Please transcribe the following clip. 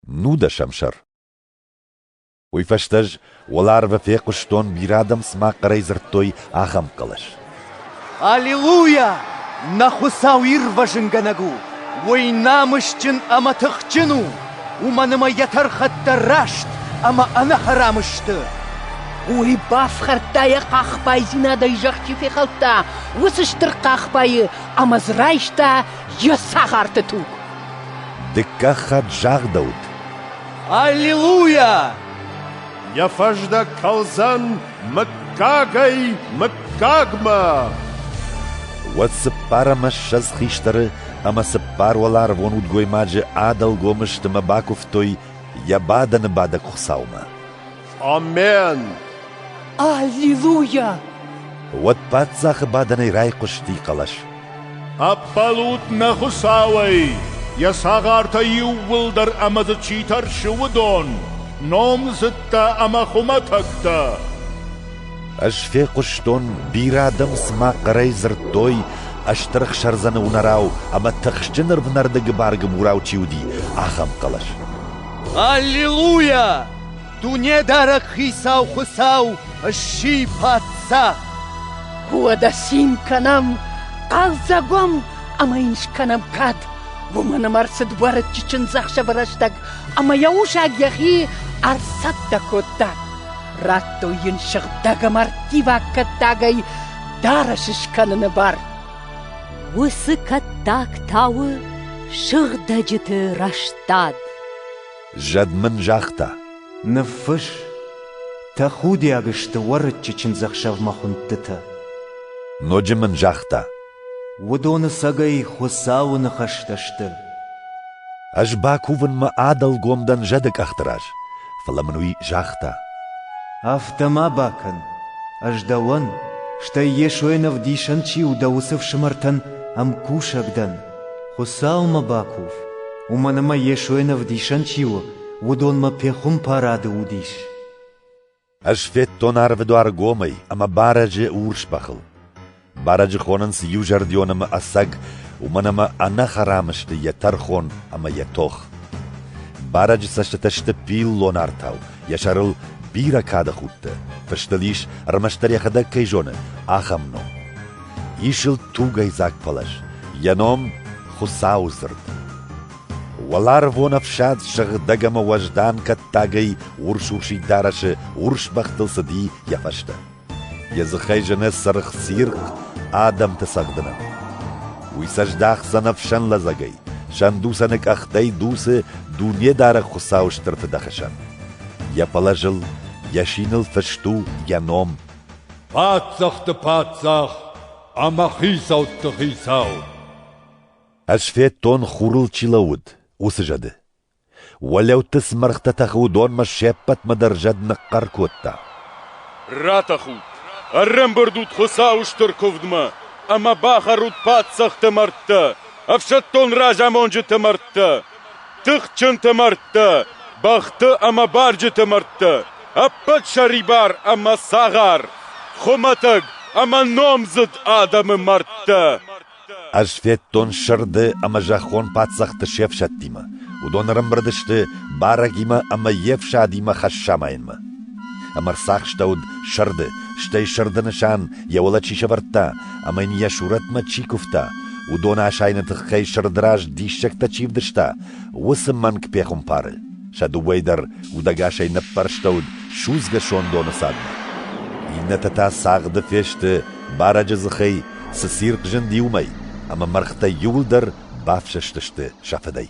Нудӕсӕм сӕр Уый фӕстӕ ӕз уӕларвы фехъуыстон, бирӕ адӕм цыма хъӕрӕй дзырдтой ахӕм хъӕлӕс. «Аллилуйя! Нӕ Хуыцау ирвӕзынгӕнӕг у! Уый намысджын ӕмӕ тыхджын у! Уымӕн ӕмӕ йӕ тӕрхӕттӕ раст ӕмӕ ӕнӕхӕрам сты!» Уый бафхӕрдта йӕ хъахбайдзинадӕй зӕхчи фехӕлдта уыцы стыр хъахбайы ӕмӕ дзы райста йӕ цагъарты туг. Дыккаг хатт загъдӕуыд. Аллилуйя! Йӕ фӕздӕг кӕлдзӕн мыггагӕй мыггагмӕ! Уӕд цыппар ӕмӕ ссӕдз хистӕры ӕмӕ цыппар уӕларвон удгоймаджы ӕдӕлгом стымӕ бакуывтой йӕ бадӕны бадӕг хуыцаумӕ. Амен! Аллилуйя! Уӕд паддзахы бадӕнӕй райхъуысти хъӕлӕс. Ӕппӕлут нӕ Хуыцауӕй, йӕ цагъартӕ иууылдӕр ӕмӕ дзы чи тӕрсы, уыдон, номдзыдтӕ ӕмӕ хуымӕтӕгтӕ. Ӕз фехъуыстон, бирӕ адӕм цыма хъӕрӕй дзырдтой, ӕстырх сӕрдзӕны уынӕрау ӕмӕ тыхсджын ӕрвнӕрдыгы бӕргӕ мурау чи уыди, ахӕм хъӕлӕс. Аллилуйя! Дунедарӕг Хицау Хуыцау сси паддзах! Уӕдӕ цин кӕнӕм, хъӕлдзӕгом ӕмӕ йын скӕнӕм кад. Уымӕн ӕмӕ ӕрцыд уӕрыччы чындзӕхсӕвы рӕстӕг ӕмӕ йӕ усаг йӕхи ӕрцӕттӕ кодта. Радтой йын сыгъдӕг ӕмӕ ӕрттиваг кӕттагӕй дарӕс скӕныны бар. Уыцы кӕттаг тауы сыгъдӕджыты рӕстад. Зӕд мын загъта. Ныффысс! Тӕхудиаг сты Уӕрыччы чындзӕхсӕвмӕ хуындтытӕ. Ноджы мын загъта. Уыдоны сӕгӕй Хуыцауы ныхӕстӕ сты. Ӕз бакувынмӕ адӕлгом дӕн зӕды къӕхты раз, фӕлӕ мын уый загъта. Афтӕ ма бакӕн, ӕз дӕуӕн, стӕй Йесойӕн ӕвдисӕн чи у дӕ уыцы фсымӕртӕн ӕмкусӕг дӕн. Хуыцаумӕ бакув, уымӕн ӕмӕ Йесойӕн Ӕвдисӕн чи у, уыдонмӕ пехуымпарады уыдис. Ӕз федтон арвыдуар гомӕй ӕмӕ барӕджы урс бӕхыл. Барӕджы хонынц иузӕрдион ӕмӕ ӕцӕг, уымӕн ӕмӕ ӕнӕхӕрам сты йӕ тӕрхон ӕмӕ йӕ тох. Барӕджы цӕстытӕ сты пиллон артау, йӕ сӕрыл бирӕ кады худтӕ, фыстыл ис, ӕрмӕстдӕр йӕхӕдӕг кӕй зоны, ахӕм ном. Исыл тугӕйдзаг пӕлӕз, йӕ ном Хуыцауы дзырд. Уӕларвон ӕфсад сыгъдӕг ӕмӕ уӕздан кӕттагӕй урс-урсид дарӕсы урс бӕхтыл цыди йӕ фӕстӕ. Йӕ дзыхӕй зыны цыргъ цирхъ адӕмты цӕгъдынӕн. Уый сӕ здахдзӕн ӕфсӕн лӕдзӕгӕй, сӕндуцӕны къӕхтӕй дуцы Дунедарӕг Хуыцауы стыр фыдӕхсӕн. Йӕ пӕлӕзыл, йӕ синыл фыст у йӕ ном паддзӕхты паддзах ӕмӕ хицӕутты хицау. Ӕз федтон хурыл чи лӕууыд, уыцы зӕды. Уӕлӕутты цы мӕргътӕ тӕхы, уыдонмӕ се ппӕтмӕ дӕр зӕд ныхъхъӕр кодта. Ратӕхут! Ӕрӕмбырдут Хуыцауы стыр куывдмӕ ӕмӕ бахӕрут паддзӕхты мӕрдтӕ, ӕфсӕддон разамонджыты мӕрдтӕ, Тыхджынты мӕрдтӕ, бӕхты ӕмӕ барджыты мӕрдтӕ, ӕппӕт сӕрибар ӕмӕ цагъар, хуымӕтӕг ӕмӕ номдзыд адӕмы мӕрдтӕ. Ӕз федтон сырды ӕмӕ зӕххон паддзӕхты се фсӕдтимӕ. Уыдон ӕрӕмбырд сты барӕгимӕ ӕмӕ йе фсадимӕ Хӕссамайӕнмӕ. Ӕмӕ рцахстӕуыд сырды, стӕй сырды нысан йӕ уӕлӕ чи сӕвӕрдта ӕмӕ йын йӕ сурӕтмӕ чи куывта, уыдоны асайыны тыххӕй сырды раз диссӕгтӕ чи вдыста, уыцы мӕнг пехуымпары. Сӕ дыууӕй дӕр удӕгасӕй ныппӕрстӕуыд судзгӕ сондоны цадмӕ. Иннӕтӕ та цагъды фесты барӕджы дзыхӕй, цы цирхъ зынди уымӕй, ӕмӕ мӕргътӕ иуылдӕр бафсӕстысты сӕ фыдӕй.